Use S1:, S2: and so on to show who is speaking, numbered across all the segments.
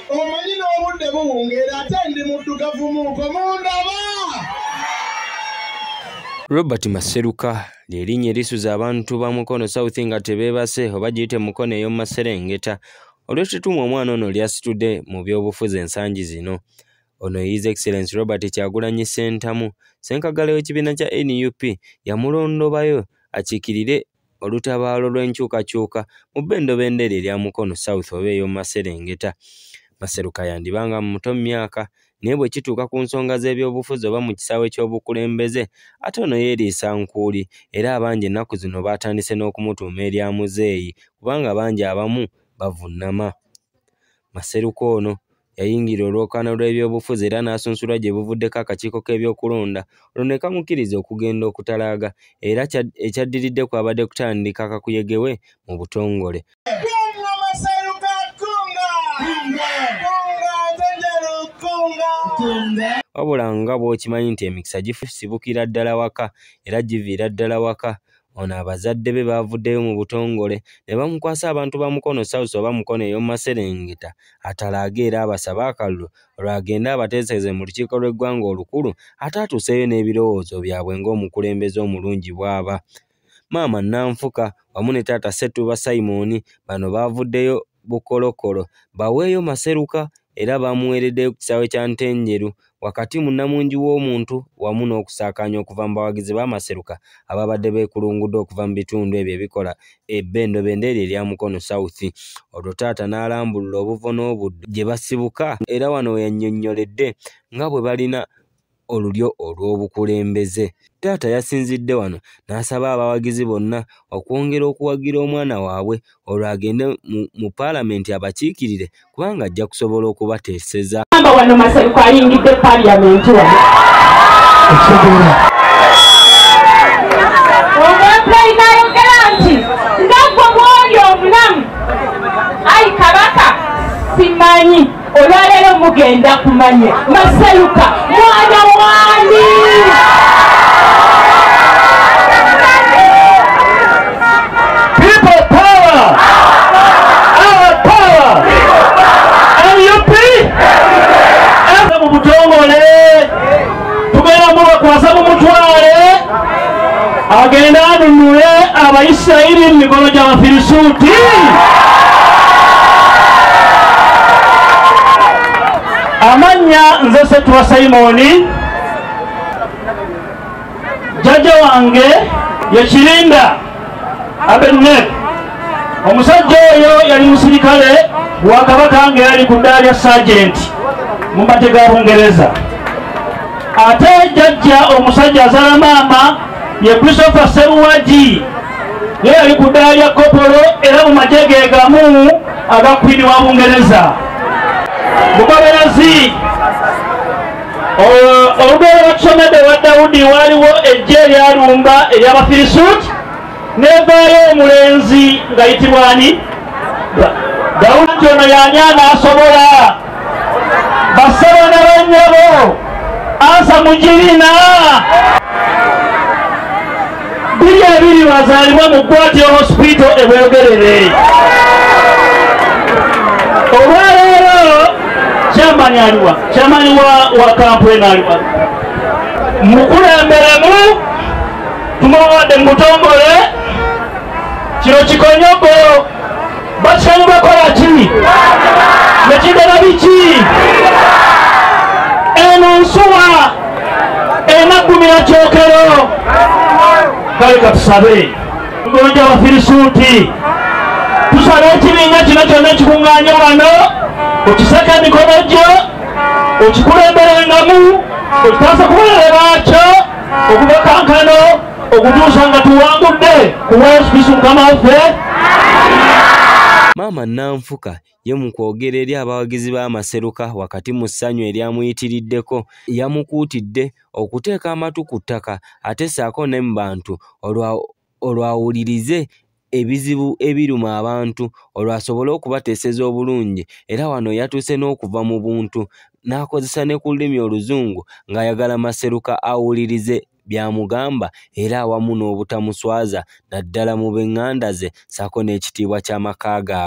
S1: omanyi n'obudde buwungeera ate ndi muddugavu muuko mundaba
S2: robert maseruka lyerinnya erisuza abantu ba mukono south nga tebeebase oba giyite mukono ey'omu maserengeta olw'ekituuma omwana ono lyasitudde mu by'obufuzi ensangi zino ono his excellence robert kyagulanyi ssentamu ssenkagala w'ekibiina kya nup yamulondobayo akiikirire olutabaalo lw'enkyukakyuka mu bbendobendo eryo erya Mukono South oba ey'omu maserengeta. Maseruka yandiba nga muto mu myaka naye bwe kituuka ku nsonga z'ebyobufuzi oba mu kisaawe ky'obukulembeze ate ono yeeriisa nkuuli era abangi ennaku zino baatandise n'okumutuuma erya muzeeyi kubanga bangi abamu bavunnama. Maseruka ono yayingira olwokaano lw'ebyobufuzi era n'asunsulwa gye buvuddeko akakiiko k'ebyokulonda olwo ne kamukkiriza okugenda okutalaaga era ekyaddiridde kwabadde kutandika kakuyegewe mu butongole wabula nga bw'okimanyi nti emikisa gifusibukira ddala waka era giviira ddala waka Ono abazadde be baavuddeyo mu butongole ne bamukwasa abantu ba Mukono South oba Mukono ey'omu maserengeta atalaaga era abasaba akalulu olwagende abateeseze mu lukiiko lw'eggwanga olukulu ate atuuseeyo n'ebirowoozo byabwe ng'omukulembeze omulungi bw'aba. Maama Nanfuka wamu ne taata Ssettuba Simon bano baavuddeyo Bukolokolo baweeyo Maseruka era baamuweereddeyo ku kisaawe kya Ntenjeru wakati mu nnamungi w'omuntu wamu n'okusaakaanya okuva mu bawagizi ba Maseruka ababadde beekulungudde okuva mu bitundu ebyo ebikola ebbendobendo eryo erya Mukono South olwo taata n'alambulula obuvo n'obuddo gye basibuka era wano we yannyonnyoledde nga bwe balina olulyo olw'obukulembeze. Taata yasinzidde wano n'asaba abawagizi bonna okwongera okuwagira omwana waabwe olwo agende mu paalamenti abakiikirire kubanga ajja kusobola okubateeseza. Amba wano Maseruko
S3: ayingidde paaliyamenti wano. olwaleero mugenda kumanya masaluka mwana wani tugenda mubakwasa mumutwale agende anunule abaisirairi mu mikono gy'abafirisuuti amannya nze setuwa simoni jjajja wange yekirinda abeneb omusajja oyo yali musirikale wa kabaka nga yali ku ddaala lya sajenti mu mate ga bungereza ate jajja omusajja azala maama ye christopher seruwagi ye yali ku ddaala lya kopolo era mu magye ge gamu aga kwini wa bungereza bugoberezi olugero lwetusomedde wa dawudi waaliwo ejja eryalumba eryabafirisuuti nevaayo omulenzi nga yitibwani dawudi nti ono yani anaasobola basaba na banyabo ansa mugirina Buli ebiri bazaalibwa mu Gwatyo Hospital e Bweyogerere. Olwaleero kyamani aliwa kyamani wa kampuni aliwa mukulemberemu tumuwadde mubutongole kino kikonyogo bakyamu bakola ki nekigala biki eno nsuwa enagumira kyokero kale katusabe gonja abafirisuuti tusaba ekibinga kino kyonna ekikuŋŋaanya wano okisaka emikono gyo okikulemberengamu okitaasa kubalala baakyo okubakankano okutuusa nga tuwangudde ku wesbisi mukama
S2: waffe maama nanfuka ye mu kwogera eri abawagizi b'amaseruka wakati mu ssanyu eryamuyitiriddeko yamukuutidde okuteeka amatu ku ttaka ate saako ne mu bantu olwawulirize ebizibu ebiruma abantu olwo asobole okubateeseza obulungi era wano yatuuse n'okuva mu buntu n'akozesa ne ku lulimi oluzungu ng'ayagala maseruka awulirize by'amugamba era awamu n'obutamuswaza naddala mu b'eŋŋanda ze ssaako n'ekitiibwa ky'amaka gaabwe.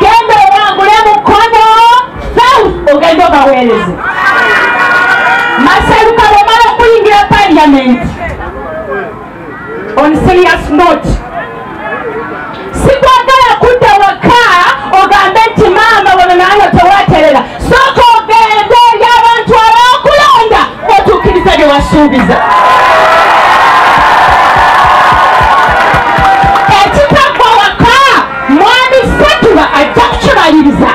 S4: genda owangule mukono south ogenda obaweereze masaluka bwomala okuyingira parliament on serious note sikwagala kudda waka ogambe nti maama wano nange tewaterera sooka ogende eri abantu abakulonda otuukiriza bye wasuubiza mwami setuba ajja kukimaliriza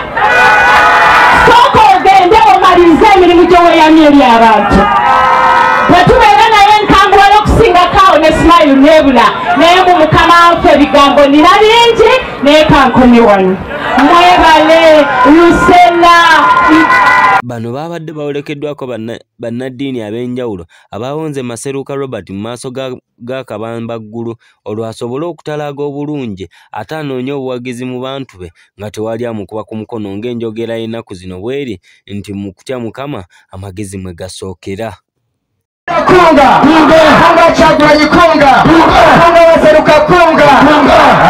S4: sooka ogende omalirize emirimu gyeweyamye eri abantu bwetubeera naye nkangula n'okusingako awo ne smile nebula naye mu mukama nfe ebigambo nina bingi naye kankumi wano mwebale lusela
S2: bano baabadde bawerekeddwako bannaddiini ab'enjawulo abaawonze maseruka robert mu maaso ga g'akabambaggulu olwo asobole okutalaaga obulungi ate anoonye obuwagizi mu bantu be nga tewali amukuba ku mukono ng'enjogera y'ennaku zino bw'eri nti mu kutya mukama amagezi mwe gasookera
S1: kunga kunga kyagulanyi kunga kunga waseruka kunga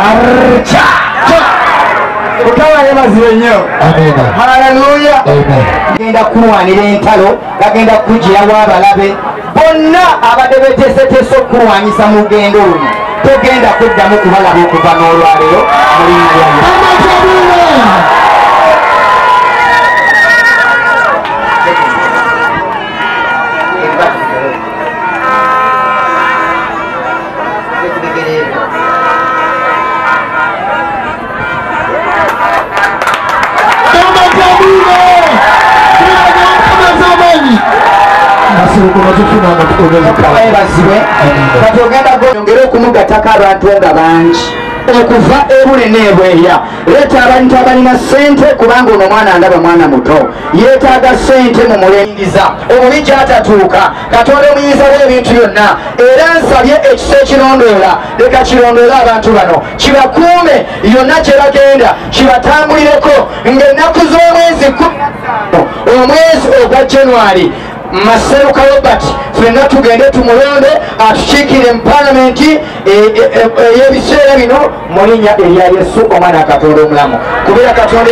S1: arca mukama yebazire nnyo haleluya genda kulwanira entalo bagenda kukugirawo abalabe bonna abadde beteeseteese okukulwanyisa mu lugendo luno togenda kuddamu kubalaba okuva n'olwaleero mukamaebazibwe kati ogenda gonyongere okumugatako abantu nga bangi okuva ebule nebweya leeta abantu abalina sente kubanga ono omwana ndaba mwana muto yetaaga sente mu mulengiza omubi gyatatuuka katonda omuyinza w'ebintu byonna era nsabye ekisa ekirondoola leka kirondoola abantu bano kibakuume yonna gye bagenda kibatambulireko ng'ennaku z'omwezi omwezi ogwa january maseruka robert fenna tugende tumulonde atukiikire mu palamenti e, e, e, ey'ebiseera bino mu linnya erya yesu omwana katonda omulamu kubeera katonda